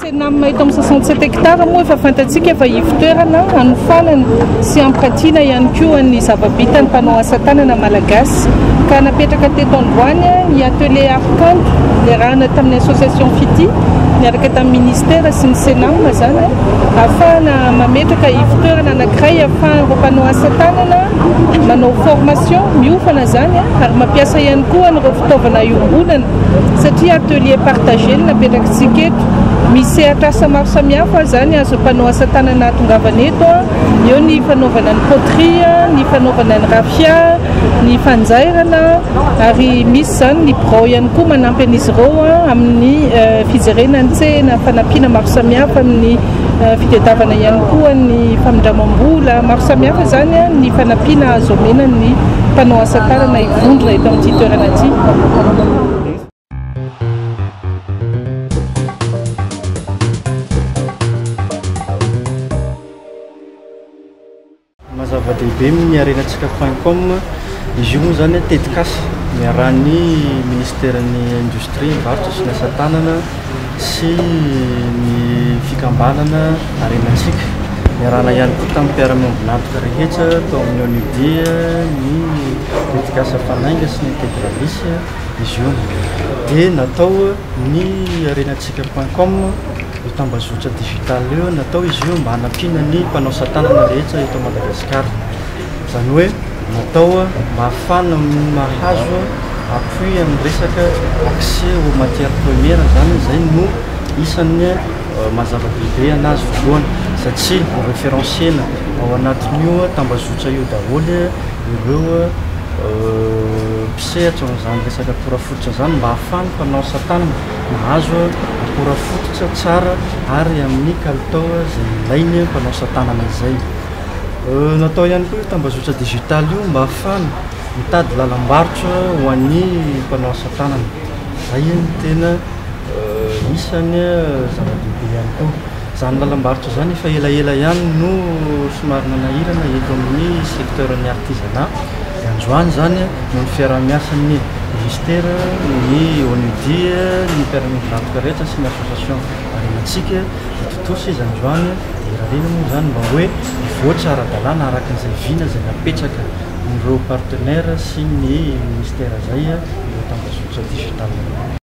Cenam eto amin'ny soixante sept hectares moa efa fantatsika fa ivotoerana hanofanana sy hampiratiana ihany koa ny zava-bitan'ny mpanao asa tanana malagasy ka napetraka teto androany ny atelier Arkanto niarahana tamin'ny association Fiti niaraka tamin'ny ministera sy ny Cenam izany ahafahana mametraka ivotoerana anankiray ahafahan'ireo mpanao asa tanana Manao formation miofana izany ary mampiasa ihany koa an'ireo fitaovana iombonana satria atelier partager no napetrakitsika eto. Misy sehatr'asa maro samihafa izany azon'ny mpanao asa tanana ahatongavana eto, eo ny fanaovana ny poterie, ny fanaovana ny raffia, ny fanjairana ary misy izany ny birao ihany koa manampy an'izy ireo amin'ny fijerena ny tsena, fanampiana maro samihafa amin'ny Fitadiavana ihany koa ny famindramam-bola maro samihafa izany ny fanampiana azo omena ny mpanao asa tanana hivondrona eto amin'ity toerana ity. Maha zava-dehibe ny harena Tsikafain'Com, izy io moa izany tetikasa niarahan'ny Minisiteran'ny Indostria, Varotra sy ny Asa Tanana sy ny Fikambanana Harenantsika. Niarahana ihany koa tamin'ny mpiara-miombon'antoka rehetra tao amin'ny ONUD, ny tetikasa Fanainga sy ny Integralis, izy io dia natao. Ny harenatsika point com, io tambazotra digital io, natao izy io mba hanampiana ny mpanao satanana rehetra eto Madagasikara. Izany hoe natao mba hahafahana mahazo appui amin'ny resaka accès aux matières premières izany, izay no isan'ny maha zava-dehibe anazy voalohany, satria ho referencena ao anatin'io tambazotra io daholo ireo. Sehatra izany resaka akora fototra izany mba hahafahan'ny mpanao satanana mahazo akora fototra tsara ary amin'ny kalitao izay ilain'ny mpanao satanana izay. Natao ihany koa io tambazotra digitaly io mba hahafahana mitady lalam-barotra ho an'ny mpanao satanana. Izay no tena isan'ny zava-dehibe ihany koa. Izany lalam-barotra izany efa elaela ihany no somary nanahirana eto amin'ny secteur ny artisanat. Dia androany izany noho ny fiaraha-miasan'ny Ministera, ny ONUD, ny mpiara-miondry varotra rehetra sy ny association Arimantsika dia tontosa izy androany dia irariana moa izany mba hoe hivoatra ara-dalàna araka izay vina izay napetraka ireo partenaires sy ny Ministera izay ireo tambazotra digital ireo.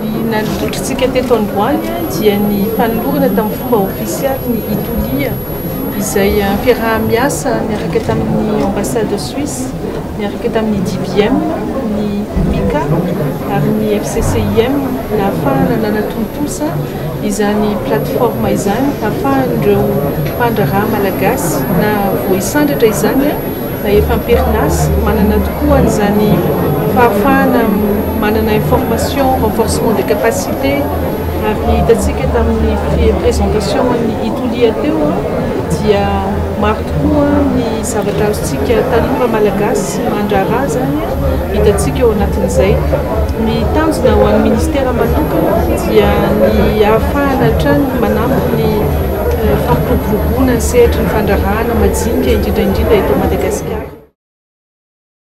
Ny nandotrintsika teto androany dia ny fanolorana tamin'ny fomba ofisialy ny Itulia, izay fiaraha-miasa niaraka tamin'ny Ambassade Suisse, niaraka tamin'ny DBM, ny MICA ary ny FCCIM nahafahana nanatontosa izany plateforme izany hahafahan'ireo mpandraharaha malagasy na voahisandratra izany na efa am-perinasa, manana tokoa an'izany fahafahana manana information, renforcement des capacités, ary ny hitantsika tamin'ny presentation-n'i Itulia teo dia maro tokoa ny zavatra azontsika tanora malagasy mandraharaha izany hitantsika ao anatin'izay. Ny tanjona ho an'ny Ministera manokana dia ny hahafahana hatrany manampy ny fampiroboroboana ny sehatry ny fandraharahana majinika indrindra indrindra eto Madagasikara.